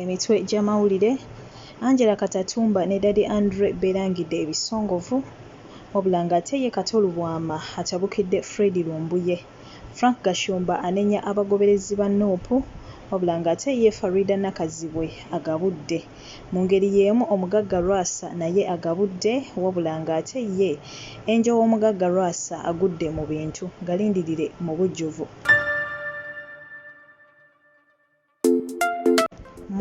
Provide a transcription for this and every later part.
emitwe gy'amawulire Angela Katatumba ne Daddy Andre beerangidde ebisongovu wabula ng'ate ye Kato Lubwama atabukidde Fred Lumbuye. Frank Gashumba anenya abagoberezi ba nup wabula ng'ate ye Faridah Nakazibwe agabudde. Mu ngeri y'emu omugagga Lwasa naye agabudde wabula ng'ate ye Angel w'omugagga Lwasa agudde mu bintu. Galindirire mu bujjuvu.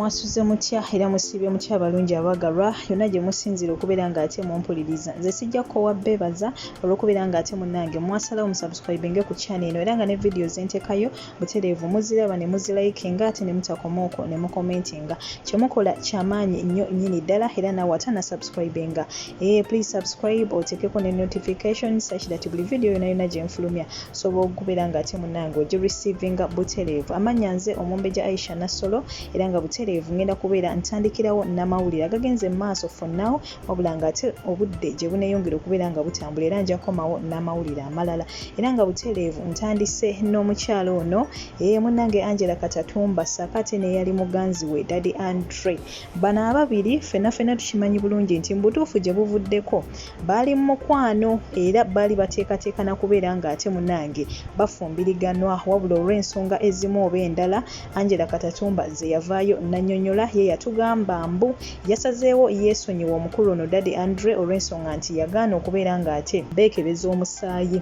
mwasuze mutya era musiibye mutya abalungi abagalwa yonna gye musinziira okubeera ng'ate mumpuliriza nze sijja kukowa beebaza olw'okubeera ng'ate munnange mwasalawo musubscribinge ku channel eno era nga ne vidiyo zentekayo butereevu muziraba ne muzilayikinga ate ne mutakoma okwo ne mukomentinga kye mukola kyamaanyi nnyo nnyini ddala era naawe ate anasubscribinga ee eh, please subscribe oteekeko ne notification such that buli vidiyo yona yona gye nfulumya Osobola okugubera nga ate munange ogi receivinga butereevu. Amannya nze Omumbejja Aisha Nassolo era nga butereevu ngenda kubeera ntandikirawo namawulire agagenze mu maaso for now wabula nga ate obudde gye buneyongera okubeera nga butambula era nja komawo namawulire amalala era nga butereevu ntandise n'omukyala ono ee munange Angela Katatumba ssaako ate neyali muganzi we Daddy Andre. Bano ababiri fena fena tukimanyi bulungi nti mu butuufu gye buvuddeko baali mu mukwano era baali bateekateeka na kubeera ng'ate munange bafumbiriganwa wabula olw'ensonga ezimu oba endala angela katatumba ze yavaayo nanyonyola ye yatugamba mbu yasazeewo yeesonyiwa omukulu ono dadi andre olw'ensonga nti yagaana okubeera ng'ate beekebeza omusaayi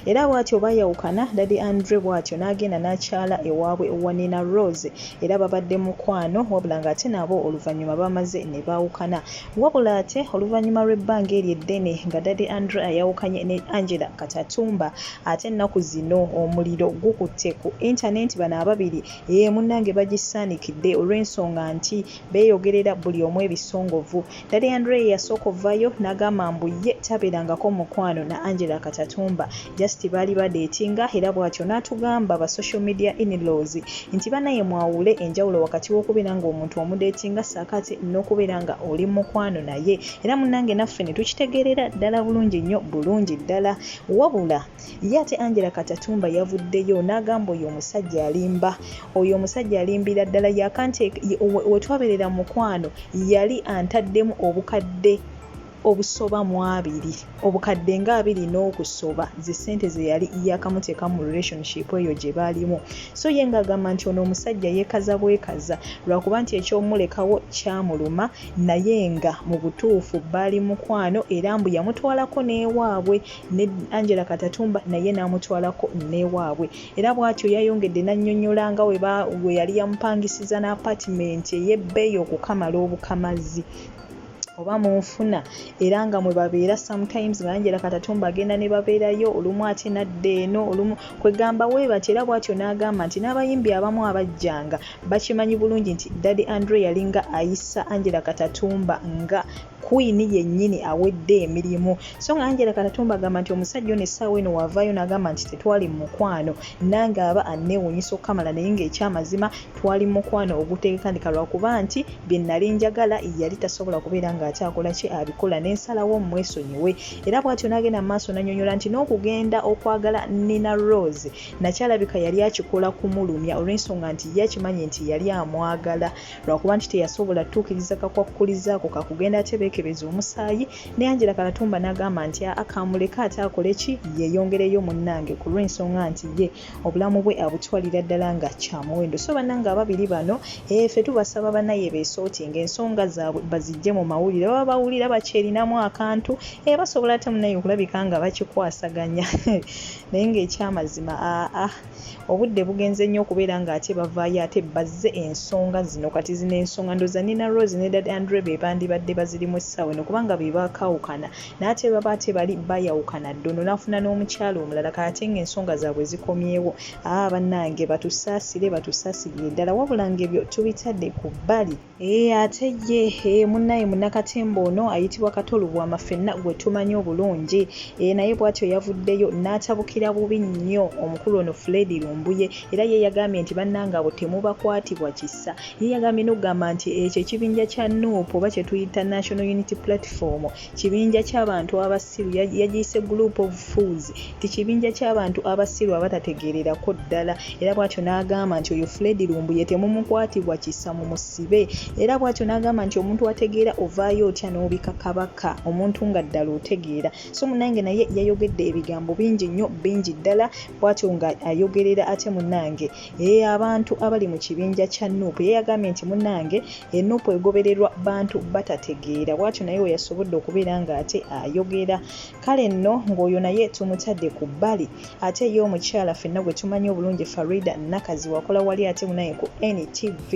Era bwatyo baayawukana, Daddy Andre bwatyo n'agenda n'akyala ewaabwe Wanina Rose era babadde mukwano wabula ng'ate nabo oluvannyuma baamaze ne baawukana. Wabula ate oluvannyuma lw'ebbanga eryo eddene nga Daddy Andre ayawukanye ne Angella Katatumba ate ennaku zino omuliro gukutte ku internet bano ababiri eeh munnange bagisaanikidde olw'ensonga nti beeyogerera buli omu ebisongovu. Teddy Andre ye yasooka ovvayo n'agamba mbu ye tabeerangako mukwano na Angela Katatumba just baali badeetinga era bwatyo n'atugamba ba social media in-laws nti banaye mwawule enjawulo wakati w'okubeera ng'omuntu omudeetinga ssaako ate n'okubeera nga oli mukwano naye era munnange naffe ne tukitegeerera ddala bulungi nnyo bulungi ddala wabula Ye ate Angela Katatumba yavuddeyo n'agamba oyo omusajja alimba, oyo omusajja alimbira ddala yakante we twabeerera mu mukwano yali antaddemu obukadde obusoba mu abiri obukadde nga abiri n'okusoba ze ssente ze yali yakamuteeka mu relationship eyo gye baalimu so ye ng'agamba nti ono omusajja yeekaza bwekaza lwakuba nti ekyomulekawo kyamuluma naye nga mu butuufu baali mukwano era mbu yamutwalako n'ewaabwe ne Angela Katatumba naye n'amutwalako n'ewaabwe era bw'atyo yayongedde n'annyonnyola nga we yali yamupangisiza n'apatimenti ey'ebbeeyi okukamala obukamazi oba mu nfuna era nga mwe babeera sometimes nga Angela Katatumba agenda ne babeerayo olumu ate nadda eno olumu kwegamba we batyo era bw'atyo n'agamba nti n'abayimbi abamu abajjanga bakimanyi bulungi nti Daddy Andre yalinga ayisa Angela Katatumba nga Queen yennyini awedde emirimu so nga Angela Katatumba agamba nti omusajja ono essaawa eno wavaayo n'agamba nti tetwali mu mukwano nange aba anneewuunyisa okukamala naye ng'ekyamazima twali mu mukwano oguteekekandika lwakuba nti bye nnali njagala yali tasobola kubeera ng'akyakola ki abikola ne nsalawo mmwesonyiwe era bw'atyo n'agenda mu maaso n'annyonnyola nti n'okugenda okwagala Nina Rose nakyalabika yali akikola kumulumya olw'ensonga nti ye akimanyi nti yali amwagala lwakuba nti teyasobola tutuukiriza kakwakkulizo ako kakugenda ate beekebeza omusaayi ne angela kalatumba n'agamba nti aa kamuleke ate akole ki yeeyongereyo munnange ku lw'ensonga nti ye obulamu bwe abutwalira ddala nga kya muwendo so bannange ababiri bano efe eh, tubasaba banaye beesooti ng'ensonga zaabwe bazijje mu mawulire baba bawulira bakyerinamu akantu e basobola ate munaye okulabika nga bakikwasaganya naye ng'ekyamazima aa ah, ah. obudde bugenze nnyo okubeera nga ate bavaayo ate bazze ensonga zino kati zino ensonga ndoza nina rose ne dad andre be bandibadde bazirimu essaawa eno kubanga be bakaawukana naate baba ate bali bayawukana dda ono n'afuna n'omukyalo omulala kaate nga ensonga zaabwe zikomyewo aa bannange batusaasire batusaasirire ddala wabula nga ebyo tubitadde ku bbali Eeh ate ye eh, munnaye munnakatemba ono ayitibwa Kato Lubwama ffenna gwe tumanyi obulungi eh, naye bwatyo yavuddeyo n'atabukira bubi nnyo omukulu ono Fred Lumbuye era ye yagambye nti bannange abo temubakwatibwa kisa. Ye yagambye n'okugamba nti ekyo ekibinja kya nup oba kye tuyita National Unity Platform kibinja ky'abantu abasiru yagiyise group of fools nti kibinja ky'abantu abasiru abatategeererako ddala era bwatyo n'agamba nti oyo fred lumbuye temumukwatibwa kisa mu musibe era bwatyo n'agamba nti omuntu ategeera ovaayo otya n'obika kabaka omuntu nga ddala otegeera so munange naye yayogedde ebigambo bingi nnyo bingi ddala bwatyo nga ayogerera ate munange Ee, abantu abali mu kibinja kya nup ye yagambye nti munange enup egobererwa bantu batategeera bwatyo naye weyasobodde okubeera nga ate ayogera kale nno ng'oyo naye tumutadde ku bbali ate ye omukyala fenna gwe tumanyi obulungi farida nakazi wakola wali ate munaye ku ntv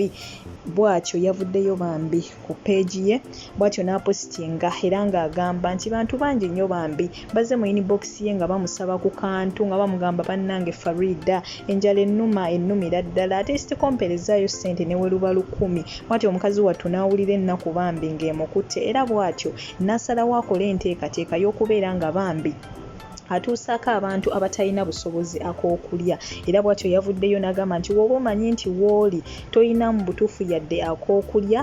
bwatyo yavuddeyo bambi ku peegi ye bwatyo n'apositinga era ng'agamba nti bantu bangi nnyo bambi bazze mu inibokisi ye nga bamusaba ku kantu nga bamugamba bannange Faridah enjala ennuma ennumira ddala ate isitikompeere zzaayo ssente ne weruba lukumi bwatyo omukazi wattu n'awulira ennaku bambi ng'emukutte era bwatyo n'asalawo akole enteekateeka y'okubeera nga bambi atuusaako abantu abatalina busobozi ak'okulya era bwatyo yavuddeyo n'agamba nti wooba omanyi nti wooli tolina mu butuufu yadde ak'okulya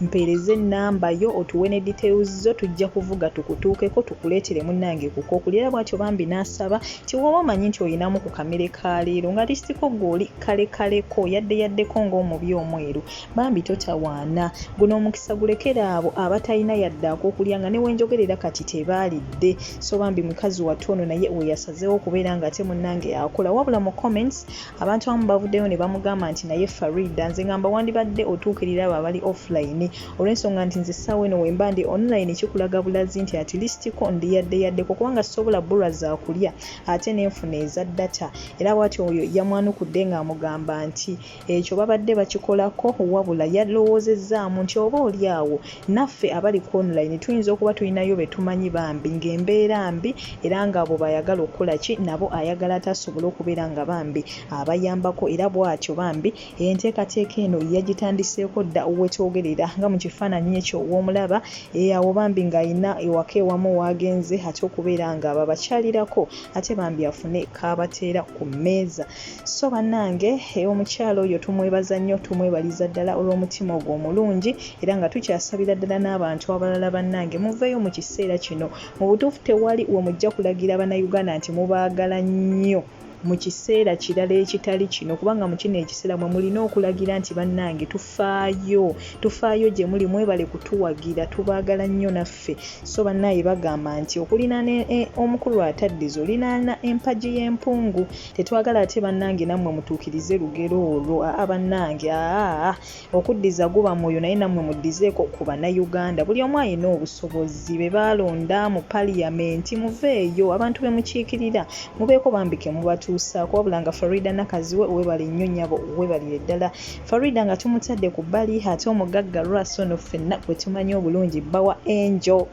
mpeereza ennamba yo otuwe ne details zo tujja kuvuga tukutuukeko tukuleetere munnange ku k'okulya era bwatyo bambi n'asaba nti wooba omanyi nti olinamu ku kamere ka leero nga lisitiko gw'oli kalekaleko yadde yaddeko ng'omubi omweru bambi totawaana guno omukisa gulekere abo abatalina yadde akokulya nga newenjogerera kati tebaalidde so bambi mukazi wattu ono naye weyasazeewo okubeera nga ate munnange akola wabula mu comments abantu abamu bavuddeyo ne bamugamba nti naye farida nze ngamba wandibadde otuukirira abo abali offline olw'ensonga nti nze essaawa eno wemba ndi online kikulaga bulazi nti at least ko ndi yadde yaddeko kubanga sisobola bulwa zakulya ate nenfuna eza data era bwati oyo yamwanukudde ng'amugamba nti Ekyo babadde bakikolako wabula yalowoozezzaamu nti oba oli awo naffe abali ku online tuyinza okuba tulinayo be tumanyi bambi ng'embeera mbi era ng'abo b'ayagala okukola ki nabo ayagala ate asobole okubeera nga bambi abayambako era bw'atyo bambi enteekateeka eno yagitandiseeko dda we twogerera nga mu kifaananyi ekyo w'omulaba e awo bambi ng'alina ewaka ewamu w'agenze ate okubeera nga babakyalirako ate bambi afune k'abateera ku mmeeza. So bannange eh, omukyala oyo tumwebaza nnyo tumwebaliza ddala olw'omutima ogwo omulungi era nga tukyasabira ddala n'abantu abalala bannange muveeyo mu kiseera kino mu butuufu tewali we mujja kulagira bannayuganda nti mubaagala nnyo mu kiseera kirala ekitali kino kubanga mu kino ekiseera mwe mulina okulagira nti bannange tufaayo tufaayo gye muli mwebale kutuwagira tubaagala nnyo naffe so bannaaye bagamba nti okulinaana e, e, omukulu ataddiza olinaana empagi y'empungu Tetwagala ate banange namwe mutukirize lugero olwo aa banange aa okuddiza guba mwoyo naye namwe muddizeeko ku banauganda buli omu ayina obusobozi bebalonda mu parliament muveeyo abantu bemukiikirira mubeeko bambi kemubatuusaako wabula nga Farida Nakaziwe webale nnyo nyabo webalire ddala Farida nga tumutadde ku bbali ate omugagga Russell no ffenna gwetumanyi obulungi bbawa Angel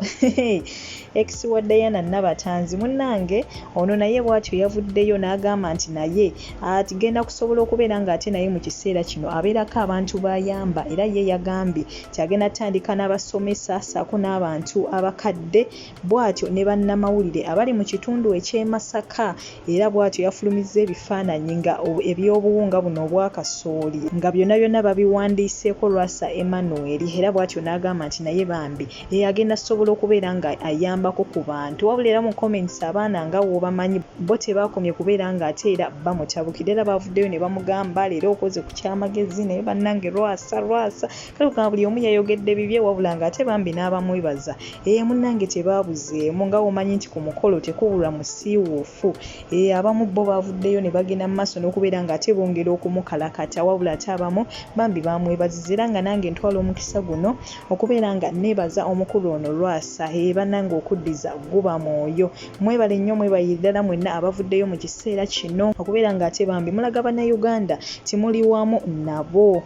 Ex wa Diana Nabatanzi munnange ono naye bwatyo yavuddeyo n'agamba nti naye agenda kusobola okubeera ng'ate naye mu kiseera kino abeerako abantu b'ayamba era ye yagambye nti agenda kutandika n'abasomesa ssaako n'abantu abakadde bwatyo ne bannamawulire abali mu kitundu eky'e Masaka era bwatyo yafulumizza ebifaananyi nga eby'obuwunga buno obwa kasooli nga byonna byonna babiwandiiseeko Lwasa Emmanuel era bwatyo n'agamba nti naye bambi eh, agenda sobola okubeera nga ayambako ku bantu wabula era mu comments abaana nga wobamanyi bo tebakomye kubeera nga ate era bamutabukira era bavuddeyo ne bamugamba leero okoze ku kyamagezi naye bannange lwasa lwasa kale kugamba buli omu yayogedde bibye wabula nga ate bambi n'abamwebaza ee eh, munnange tebaabuzeemu nga womanyi nti ku mukolo tekubulwa musiiwuufu ee eh, abamu bo bavuddeyo ne bagenda mu maaso n'okubeera nga ate bongera okumukalakata wabula ate abamu bambi bamwebaziza era nga nange ntwala omukisa guno okubeera nga nebaza omukulu ono lwasa ee banange okuddiza guba mwoyo mwebale nnyo mwebalire ddala mwenna abavuddeyo mu kiseera kino okubeera nga ate bambi mulaga bannayuganda timuli wamu nabo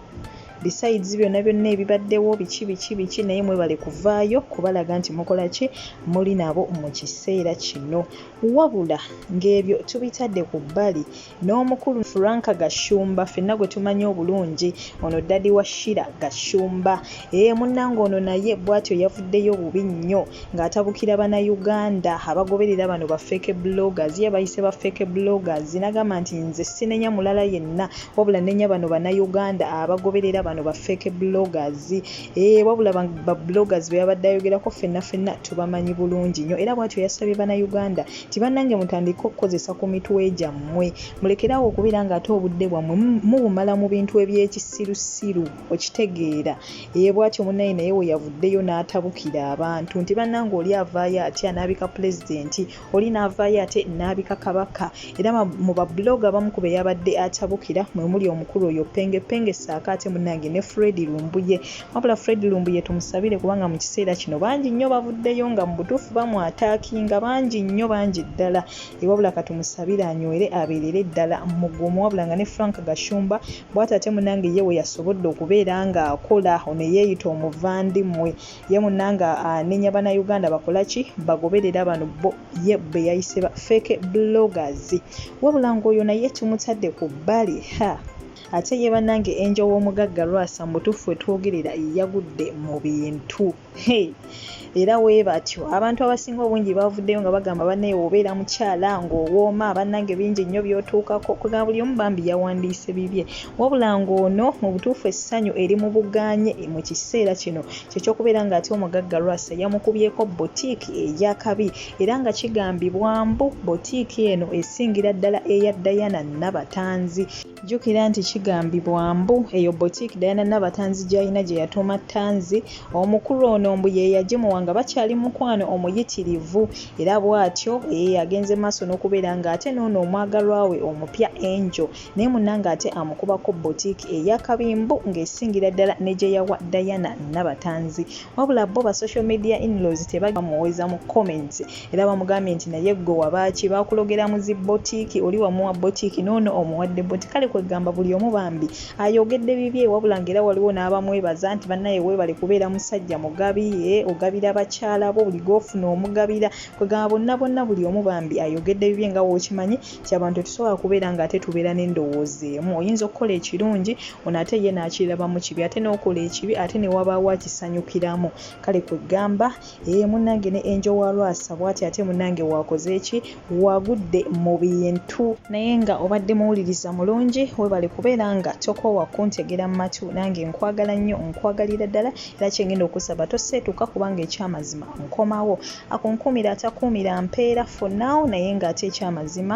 besides byonna byonna ebibaddewo biki biki biki naye mwebale kuvaayo kubalaga nti mukola ki muli nabo mu kiseera kino wabula ng'ebyo tubitadde ku bbali n'omukulu Frank Gashumba fenna gwe tumanyi obulungi ono ddadi wa Shira Gashumba ee eh, munnange ono naye bwatyo yavuddeyo bubi nnyo ng'atabukira Bannayuganda abagoberera bano ba fake bloggers ye bayise ba fake bloggers nagamba nti nze sinenya mulala yenna wabula nenya bano Bannayuganda abagoberera bano ba fake bloggers ee eh, wabula ba bloggers be yabadde ayogerako fenna fenna tubamanyi bulungi nnyo era bwatyo yasabye Bannayuganda nti bannange mutandike okukozesa ku mitwe gyammwe mulekerawo okubeera nga ate obudde bwammwe mubumala mu bintu ebyekisirusiru okitegeera ye bwatyo munaye naye weyavuddeyo n'atabukira abantu nti bannange oli avaayo atya n'abika pulezidenti oli n'avaayo ate n'abika kabaka era mu babuloga abamu ku beyabadde atabukira mwe muli omukulu oyo penge penge saako ate munnange ne fredi lumbuye wabula fred lumbuye tumusabire kubanga mu kiseera kino bangi nnyo bavuddeyo nga mu butuufu bamwataakinga bangi nnyo bangi ddala ewabula katumusabire anywere abeerere ddala mugumu wabula nga ne frank gashumba bwati ate munange ye we yasobodde okubeera ng'akola ono eyeeyita omuvandimmwe ye munange anenya banauganda bakola ki bagoberera bano bo ye be yayise ba feke bloggers wabula ng'oyo naye tumutadde ku bbali ha Ate ye banange angel w'omugagga Lwasa mubutuffu wetwogerera yagudde mubintu hey era webatyo abantu abasinga obungi bavuddeyo nga bagamba banaye wobeera mukyala ng'owooma banange bingi nnyo byotuukako kwegamba buli omu bambi yawandiise bibye wabula ng'ono mubutuffu essanyu eri mubuganye mukiseera kino kyekyokubeera nga ate omugagga Lwasa yamukubyeko boutique eyakabi era nga kigambibwa mbu boutique eno esingira ddala eya Diana Nabatanzi. Jjukira nti kigambibwa mbu eyo boutique Diana Nabatanzi gy'alina gye yatuuma Tanzi, omukulu ono mbu ye yagimuwa nga bakyali mu mukwano omuyitirivu era bw'atyo eeh agenze mu maaso n'okubeera ng'ate n'ono omwagalwa we omupya Angel naye munnange ate amukubako boutique eya Kabimbu ng'esingira ddala ne gye yawa Diana Nabatanzi wabula bo ba social media in-laws tebajja bamuweza mu comments era bamugambye nti naye gwe wabaaki bakulogera mu zi botiiki oli wamuwa botiiki noono omuwadde boti kale kwegamba buli omu bambi ayogedde bibye wabula nga era waliwo n'abamwebaza nti bannaye weebale kubeera musajja mugabi e ogabira bakyala bo buli gofuna omugabira kwegamba bonna bonna buli omu bambi ayogedde bibye nga wokimanyi nti abantu tetusobola kubeera nga ate tubeera n'endowooza emu oyinza okukola ekirungi ono ate ye naakirabamu kibi ate n'okola ekibi ate newabaawo akisanyukiramu kale kwegamba Eeh munange ne Angel wa Lwasa bwati ate munange wakoze ki wagudde mu bintu. Naye nga obadde muwuliriza mulungi webale kubeera nga tokoowa kuntegera mu matu nange nkwagala nnyo nkwagalira ddala era kyengenda okusaba toseetuka kubanga ekyamazima nkomawo akunkuumira atakuumira mpeera for now naye nga ate ekyamazima